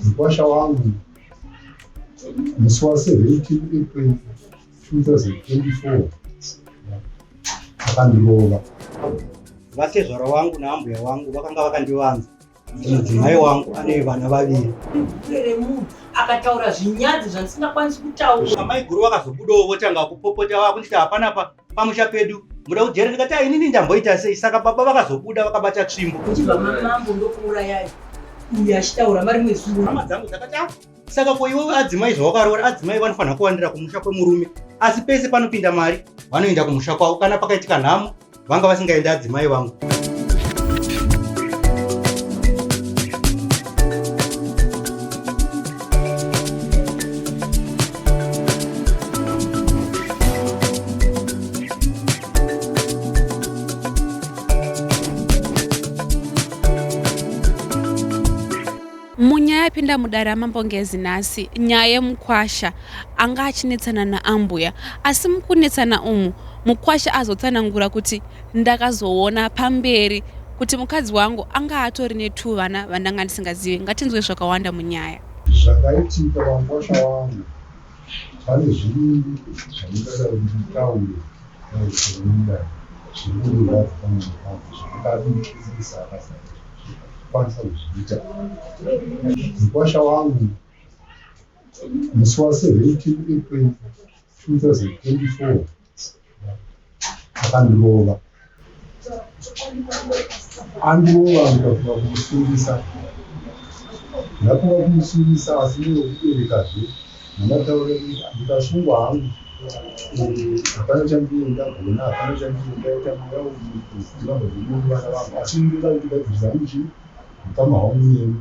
mukwasha wangu musi wa 17 april 2024 akandirova vatezvara wangu naambuya wangu vakanga vakandivanza kuti mudzimai wangu ane vana vaviri akataura zvinyadzi zvandisingakwanisi kutaura amaiguru vakazobudawo votanga kupopota vakunditi hapana pa pamusha pedu muda kujera ndikati ah, inini ndamboita sei saka baba vakazobuda vakabata tsvimbo uchibva mamambo ndokuurayai uyu achitaura mari mwezuro hama dzangu dzakati ah, saka ko iwe adzimai zvawakaroora adzimai vanofanira kuwandira kumusha kwemurume asi pese panopinda mari vanoenda kumusha kwavo kana pakaitika nhamo vanga vasingaendi adzimai vangu munyaya yapinda mudare amambo ngezi nhasi nyaya yemukwasha anga achinetsana naambuya asi mukunetsana umu mukwasha azotsanangura kuti Ndakazoona pamberi kuti mukadzi wangu anga atori netuvana vandanga ndisingazive. Ngatinzwe zvakawanda munyaya. Zvakaitika pamukwasha wangu pane zviviri zvandingadai ndichitaura dai zvoenda zviri kundirwadza pamwoyo pangu zvandingadii ndisingakasai kwanisa kuzviita mukwasha wangu musi wa 17 april 2024 akandirova andirova ndikafunga kumusungisa ndafunga kumusungisa asi ndiyo kuberekazve namataura ndikasungwa hangu hapana chandiyo ndagona hapana chandiyo ndaita mweya uiiaa vana vangu asi ndinoda kuti gadzirisa hangu chii mukama hwangu nemi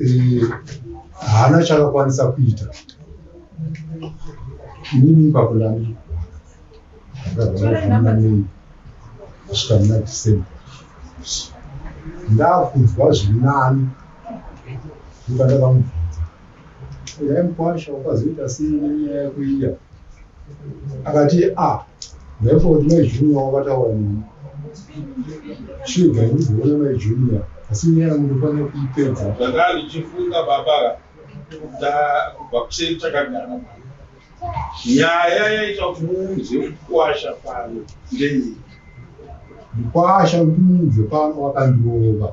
eh, haana e, chakakwanisa kuita inini ipapo ndani ndakazaaanei kusvika muna december ndakunzwa zviri nani ndokandakamu yaimukwasha wakazoita sei nenyaya yako iya akati a therefore kuti mai junior wakataura nini shuga ndizivona mai junior asi nyaya yangu ndofanira kuipedza ndanga ndichifunga baba kubva kuseri chakagara nyaya yaita kuti muunze mukwasha pano ndeyei mukwasha kuti muunze pano wakandirova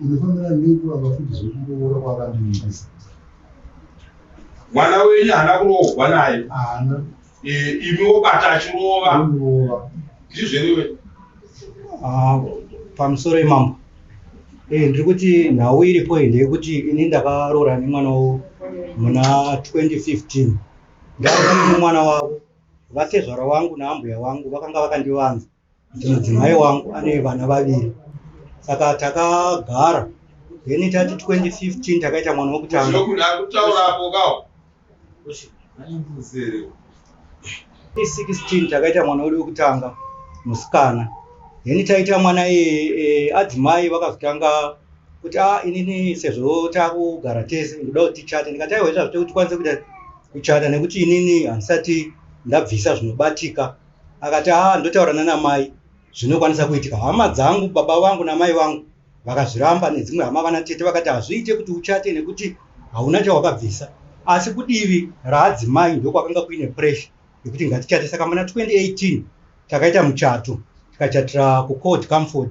Unofanira nei kuramba futi zvekuroora kwakandiisa? Mwana wenyu haana kuroorwa naye? Haana. Eh, imi wobata achirova. Unorova. Ndizvo here iwe? Ah, pamusoro imambo eh, ndiri kuti nhau iripo iyi ndeyekuti ini ndakaroora nemwana wavo muna 2015 ndava nemumwana wavo vatezvara wangu naambuya wangu vakanga vakandivanza kuti mudzimai wangu ane vana vaviri saka takagara then tati 2015 takaita mwana wekutanga i16 takaita mwana wedu wekutanga musikana then taita mwana e, e, adzimai vakazotanga kuti a ah, inini sezvo takugara tese ndoda kuti tichate ndikataiwa izvazvo tekuti tikwanise kuita kuchata nekuti inini handisati ndabvisa zvinobatika akati haa ndotaura nana mai zvinokwanisa kuitika hama dzangu baba vangu namai vangu vakazviramba nedzimwe hama vana tete vakati hazviite kuti uchate nekuti hauna chawakabvisa asi kudivi raadzimai ndokwakanga kuine pressure yekuti ngatichate saka muna 2018 takaita muchato tikachatira kucod comford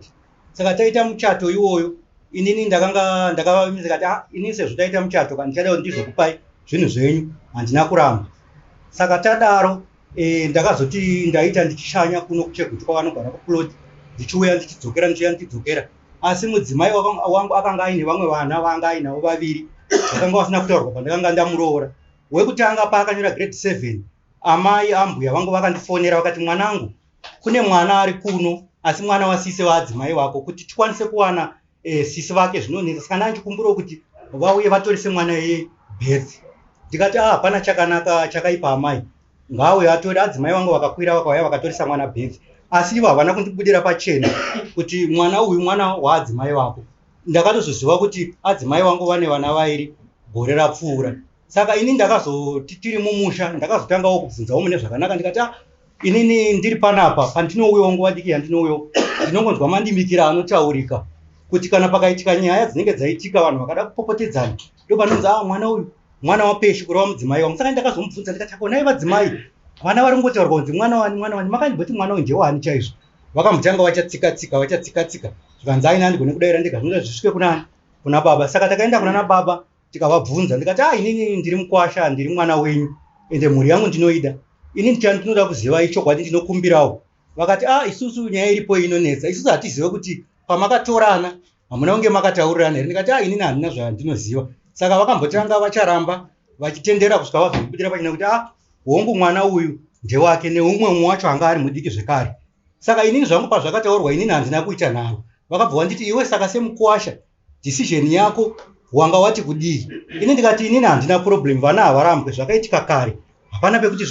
saka taita muchato iwoyo inini ndakanga ndakavavimisa kati ah, inini sezvo taita muchato kandichada kuti ndizvokupai zvinhu zvenyu handina kuramba saka tadaro e, ndakazoti ndaita ndichishanya kuno kuchegutu kwavanogara kuplot ndichiuya ndichidzokera ndichiuya ndichidzokera asi mudzimai wangu akanga aine vamwe vana vaanga ainavo vaviri vakanga vasina kutaurwa pandakanga ndamuroora wekutanga paakanyora grade seven amai ambuya vangu vakandifonera vakati mwanangu kune mwana ari kuno asi mwana wasise vaadzimai vako kuti tikwanise kuwana eh, sisi vake zvinonetsa saka ndandikumbirawo kuti vauye vatorise mwana yebirth ndikati ah hapana chakanaka chakaipa amai ngauye atore adzimai vangu vakakwira vakauya vakatorisa mwana birth asi ivo havana kundibudira pachena kuti mwana uyu mwana waadzimai vako ndakatozoziva kuti adzimai vangu vane vana vairi gore rapfuura saka ini ndakazoti tiri mumusha ndakazotangawo kubvunzawo mune zvakanaka ndikati ah, Inini ndiri panapa pandinouyawo nguva diki yandinouyawo ndinongonzwa mandimikira anotaurika kuti kana pakaitika nyaya dzinenge dzaitika vanhu vakada kupopotedzana ndopanonzi a ah, mwana uyu mwana wapeshi kureva mudzimai wangu saka ndakazomubvunza ndikati akonai vadzimai vana vari kungotaurwa kunzi mwana wani mwana wani makandimboti mwana uyu ndewani chaizvo vakambotanga vachatsikatsika vachatsikatsika zvikanzi aina andigone kudaira ndega zvinoita zvisvike kunani kuna baba saka takaenda kuna nababa tikavabvunza ndikati ah inini ndiri mukwasha ndiri mwana wenyu ende mhuri yangu ndinoida ini ndichani ndinoda kuziva ichokwadi ndinokumbirawo vakati ah isusu nyaya iripo inonetsa isusu hatizive kuti pamakatorana hamuna kunge makataurirana here ndikati ah inini handina zvandinoziva saka vakambotanga vacharamba vachitendera kusvika vazobudira pachina kuti ah hongu mwana uyu ndewake neumwe umwe wacho anga ari mudiki zvekare saka inini zvangu pazvakataurwa inini handina kuita nharo vakabva wanditi iwe saka semukwasha decision yako wanga wati kudii ini ndikati inini handina problem vana havarambwe zvakaitika kare hapana pekuti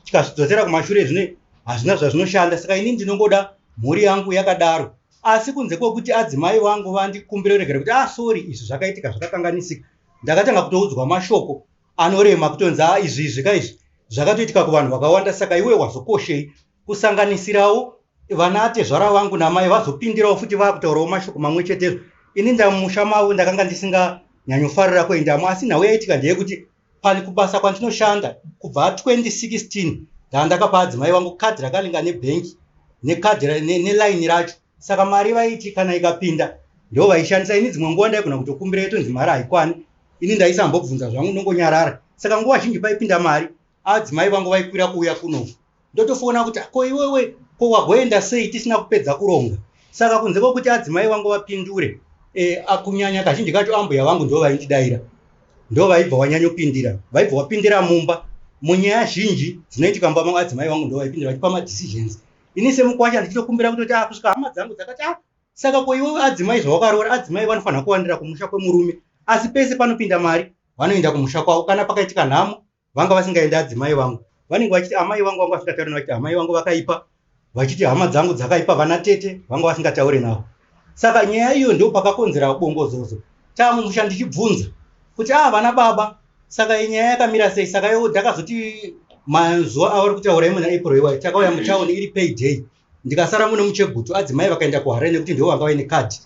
tikazvidzosera kumashure zvine hazvina zvazvinoshanda saka ini ndinongoda mhuri yangu yakadaro asi kunze kwekuti adzimai vangu vandikumbira regera kuti ah sorry izvi zvakaitika zvakakanganisika ndakatanga kutoudzwa mashoko anorema kutonzi a ah, izvi izvi ka izvi zvakatoitika kuvanhu vakawanda saka iwe wazokoshei kusanganisirawo vana atezvara vangu namai vazopindirawo futi vakutaurawo mashoko mamwe chetezvo ini ndamusha mavo ndakanga ndisinganyanyofarira kuendamo asi nhau yaitika ndeyekuti pani kubasa kwandinoshanda kubva 2016 ndaandakapa adzimai vangu kadhi rakalinga nebhenki nekadhi nelaini racho saka mari vaiti kana ikapinda ndo vaishandisa ini dzimwe nguva ndaigona kutokumbira yetonzi mari haikwani ini ndaisambobvunza zvangu nongonyarara saka nguva zhinji paipinda mari adzimai vangu vaikwira kuuya kuno ndotofoona kuti ko iwewe ko wagoenda sei tisina kupedza kuronga saka kunze kwokuti adzimai vangu vapindure e, akunyanya kazhinji kacho ambuya vangu ndo vaindidaira ndo vaibva wanyanyopindira vaibva wapindira mumba munyaya zhinji dzinoitika mumba mangu adzimai vangu ndo vaipindira vachipa madecisions ini semukwasha ndichitokumbira kutoti a ah, kusvika hama dzangu dzakati a ah, saka ko iwewe adzimai zvawakaroora adzimai vanofanira kuwandira kumusha kwemurume asi pese panopinda mari vanoenda kumusha kwavo kana pakaitika nhamo vanga vasingaende adzimai vangu vanenge vachiti amai vangu vanga vasingataure vachiti amai vangu vakaipa vachiti hama dzangu dzakaipa vana tete vanga vasingataure navo saka nyaya iyo ndo pakakonzera bongozozo tamumusha ndichibvunza kuti aa ah, vana baba saka inyaya yakamira sei saka yo ndakazoti mazuva avari kutaura imwe naapril iwayo takauya mutown iri payday ndikasara mune muchegutu adzimai vakaenda kuharare nekuti ndivo vanga vaine kadhi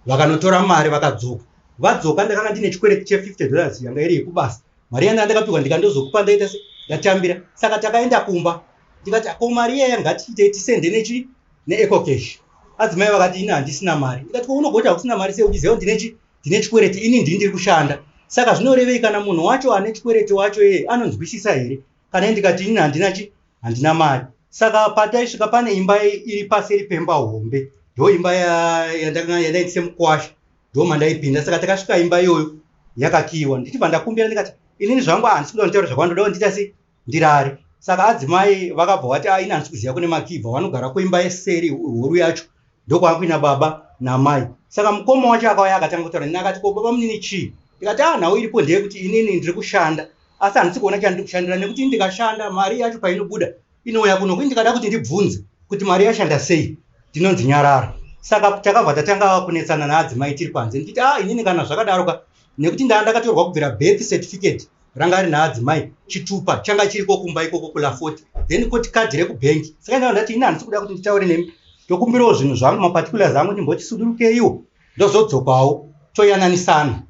vakanotora mari vakadzoka vadzoka ndakanga ndine chikwereti che50 dollars yanga iri yekubasa mari yanda ndakapihwa ndikandozokupa ndaita se ndatambira saka takaenda kumba ndikati ko mari iyaya ngatiitei tisende nechi neecocash adzimai vakati ini handisina mari ndikati ko unogoita hakusina mari sei uchiziva ndine chi ndine chikwereti ini ndii ndiri kushanda saka zvinorevei kana munhu wacho ane chikwereti wacho iye anonzwisisa here kana ndikati ini handina chi handina mari saka pataisvika pane imba iri paseri pemba hombe ndo imba yandaitise mukwasha ndo mandaipinda saka takasvika imba iyoyo yakakiiwa ndichibva ndakumbira ndikati inini zvangu handisi kuda kutaura zvakwandoda kundiita sei ndirari saka adzimai vakabva vati ah, ini handisi kuziva kune makii bva vanogara kuimba yeseri horu yacho ndokwaakuina baba namai saka mukoma wacho akauya akatanga kutaura nini akati ko baba munini chii ndikati a ah, nhau iripo ndeyekuti inini ndiri kushanda asi handisi kuona chandiri kushandira nekuti ndikashanda mari yacho painobuda inouya kuno kuni ndikada kuti ndibvunze kuti mari yashanda sei ndinonzi nyarara saka takabva tatanga kunetsana naadzimai tiri panze ndichiti a ah, inini kana zvakadaroka nekuti ndaa ndakatorwa kubvira birth certificate ranga rina adzimai chitupa changa chiriko kumba ikoko kulafoti then koti kadhi rekubhengi saka ndava ndati ini handisi kuda kuti nditaure nemi ndokumbirawo zvinhu zvangu maparticulars angu ndimbotisudurukeiwo ndozodzokawo toyananisana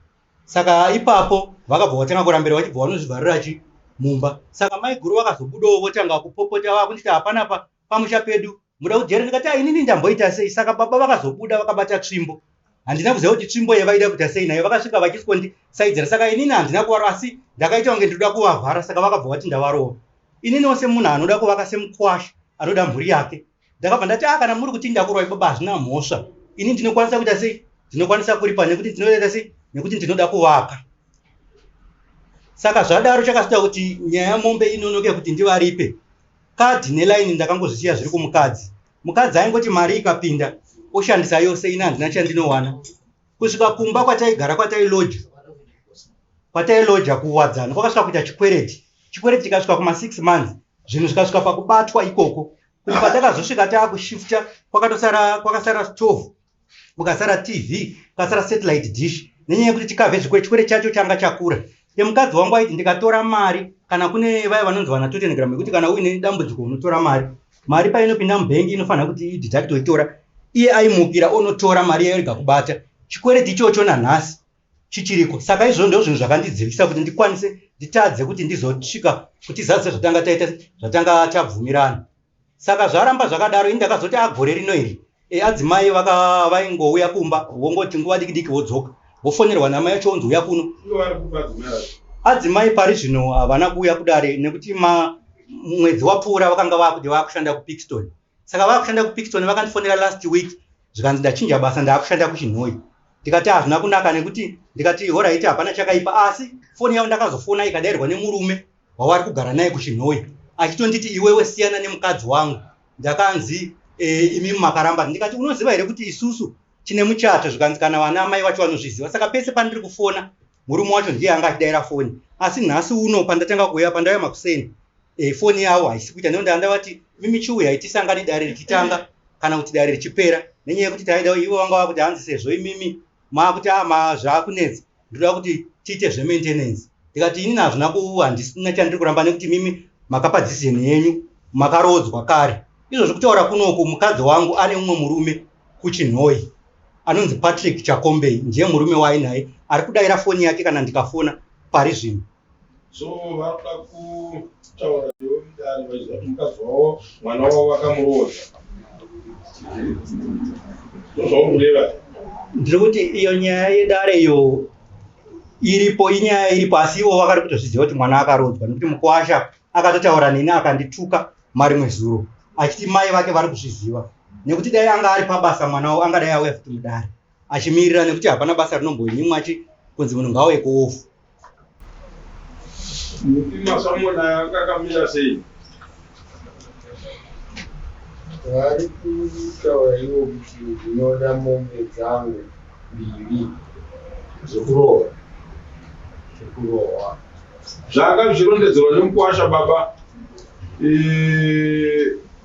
saka ipapo vakabva vatanga kurambira vachibva vanozvivharira chi mumba saka maiguru vakazobudawo votanga kupopota vakunditi hapana pa pamusha pedu muda kujera ndikati ah, inini ndamboita sei saka baba vakazobuda vakabata tsvimbo handina kuziva kuti tsvimbo yevaida kuita sei nayo vakasvika vachisondisaidzira saka inini handina kuvaro asi ndakaita kunge ndinoda kuvavhara saka vakabva vati ndavarova ininiwo semunhu anoda kuvaka semukwasha anoda mhuri yake ndakabva ndati a ah, kana muri kuti ndakurwai baba hazvina mhosva ini ndinokwanisa kuita sei ndinokwanisa kuripa nekuti ndinoita sei nekuti ndinoda kuvaka saka zvadaro chakasita kuti nyaya yamombe inonoke kuti ndivaripe kadhi nelaini ndakangozvisiya zviri kumukadzi mukadzi aingoti mari ikapinda oshandisa yose ini handina chandinowana kusvika kumba kwataigara kwatailoja kwatailoja kuwadzana kwakasvika kuita chikwereti chikwereti chikasvika kuma six months zvinhu zvikasvika pakubatwa ikoko kuti patakazosvika taakushifta kwakatosara kwakasara stove mukasara tv kasara satellite dish nenyaya yekuti chikave zvikwere chikwere chacho changa chakura emukadzi wangu aiti ndikatora mari kana kune vaya vanonzi vana totelegram yekuti kana uine dambudziko unotora mari mari painopinda mubhengi inofanira kuti ididacto itora iye aimukira onotora mari yairega kubata chikwereti ichocho nanhasi chichiriko saka izvo ndo zvinhu zvakandidzivisa kuti ndikwanise nditadze kuti ndizosvika kutizazise zvatanga taita zvatanga tabvumirana saka zvaramba zvakadaro ini ndakazoti agore rino iri e, adzimai vaingouya kumba wongoti nguva diki diki wodzoka wofonerwa namai yacho wonzi uya kuno adzimai pari zvino havana kuuya kudare nekuti mwedzi wapfuura vakanga vakuti vakushanda kupixton saka vakushanda kupixton vakandifonera last week zvikanzi ndachinja basa ndaakushanda kuchinhoi ndikati hazvina kunaka nekuti ndikati horaiti hapana chakaipa asi foni yavo ndakazofona ikadairwa nemurume wawari kugara naye kuchinhoyi achitonditi iwewe siyana nemukadzi wangu ndakanzi e, imi makaramba ndikati unoziva here kuti isusu tine muchato zvikanzi kana vana amai vacho vanozviziva saka pese pandiri kufona murume wacho ndiye anga achidaira foni asi nhasi uno pandatanga kuuya pandauya makuseni e, foni yavo haisi kuita neo ndaandavati mimi chiuyai tisangani dare richitanga kana kuti dare richipera nenyaya yekuti taida ivo vanga vakuti hanzi sezvo imimi maakuti ama ah, zvaakunetsa ndinoda kuti tiite zvemaintenance ndikati ini nazvina kuhandisina chandiri kuramba nekuti mimi makapa decision yenyu makaroodzwa kare izvozvi kutaura kunoku mukadzi wangu ane mumwe murume kuchinhoyi anonzi patrick chakombei ndiye murume waainaye ari kudaira foni yake kana ndikafona pari zvino so vakuda kutaura newe mudare vachiziva kuti mukadzi wavo mwana wavo vakamuroodza ndozvaurureva ndiri kuti iyo nyaya yedare iyo iripo inyaya iripo asi ivo vakari kutozviziva kuti mwana akarodzwa nekuti mukwasha akatotaura neni akandituka marimwe zuro achiti mai vake vari kuzviziva nekuti dai anga ari pabasa mwana wavo angadai auya futi mudare achimirira nekuti hapana basa rinomboinyimwa achi kunzi munhu ngauye kuofu mutima samona anga akamira sei vari kutaura ivo kuti ndinoda mombe dzangu mbiri zvekurohwa zvekurohwa zvanga zvichirondedzerwa nemukwasha baba eh,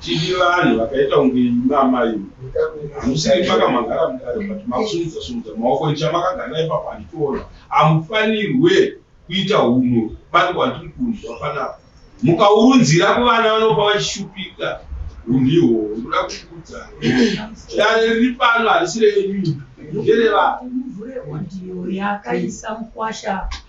Tiri vanhu vakaita kunge imba amai. Hamusiri paka magara mudare but makusumudza sumudza maoko icha makagara ipapo handitoona. Hamufanirwe kuita hunhu pane kwandiri kunzwa panapa. Mukaurunzira kuvana vanopa vachishupika hunhu ihwohwo ndoda kukuudza. Dare riri pano harisi renyu. Ndere vanhu. Muvhure audio yakaisa mukwasha.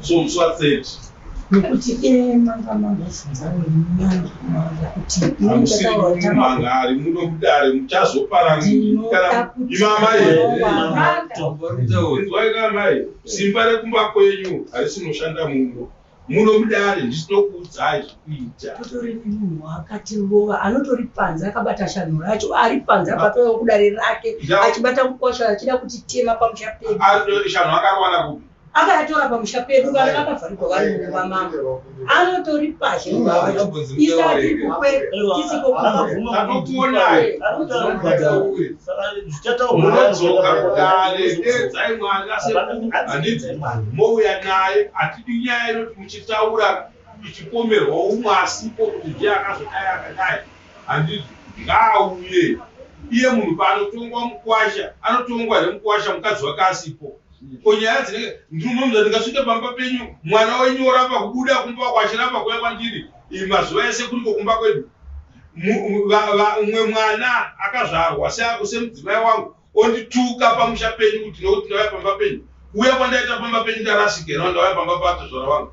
so musi wa 30 nekuti iye manga mangofunga wenyanga manga kuti manga ari muno kudare muchazoparanimamaiwaikaamai simba rekumba kwenyu harisinoshanda muno muno mudare ndisinokuudzai zvekuita atori nemunhu akati rova anotori panze akabata shanhu racho ari panze apatoa kudare rake achibata mukwasha achida kuti tema pamusha pedu shanhu akarowana kupi akayatora pamusha pedu vana vakavharigwa vari mumba mavo anotoripazhe mouya naye hatidi nyaya inoti muchitaura ichipomerwa umwe asipo kuti ndiye akazodai akadai handidi ngaauye iye munhu paanotongwa mukwasha anotongwa hre mukwasha mukadzi wake asipo ko nyaya dzinenge ndinomuza ndikasvike pamba penyu mwana wenyu oramba kubuda kumba wako achiramba kuya kwandiri mazuva ese kuriko kumba kwedu umwe mwana akazvarwa seako semudzimai wangu ondituka pamusha penyu kuti nokuti ndauya pamba penyu kuuya kwandaita pamba penyu ndarasika no ndauya pamba paatozvara wangu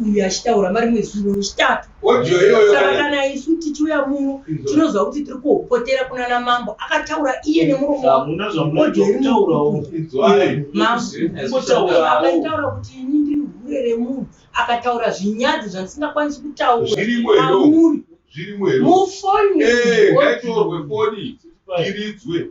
uyu achitaura vari mwezuro rechitatu saka kana isu tichiuya muno tinoziva kuti tiri kuhopotera kuna na mambo akataura iye nemuromoaitaura kuti ini ndiri hure remunhu akataura zvinyadzi zvandisingakwanisi kutauraamuri mufonyi eh, ngaitorwe foni iridzwe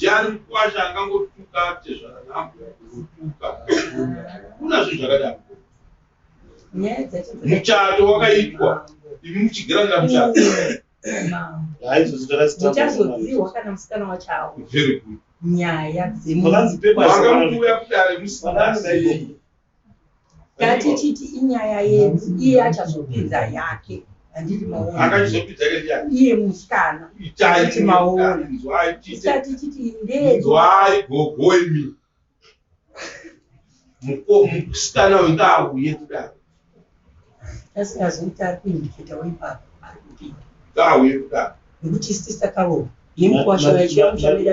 Jari mkwasha angangotuka tezvara nhabwa kuzotuka kuna zvinhu zvakadaro muchato wakaitwa imi muchigiranira muchato muchazoziwa kana musikana wachawo nyaya dzemuuya kudare musina ngatichiti inyaya yedu iye achazopinza yake handiti maonaiye musikana iti maona isati chiti ndezwai gogoimi musikana wenda auye kudaro asingazoita ari kuindiketawo ipapo ari kupinda ngauye kudaro nekuti isitisa kavo yemukwasho yachiyamushamira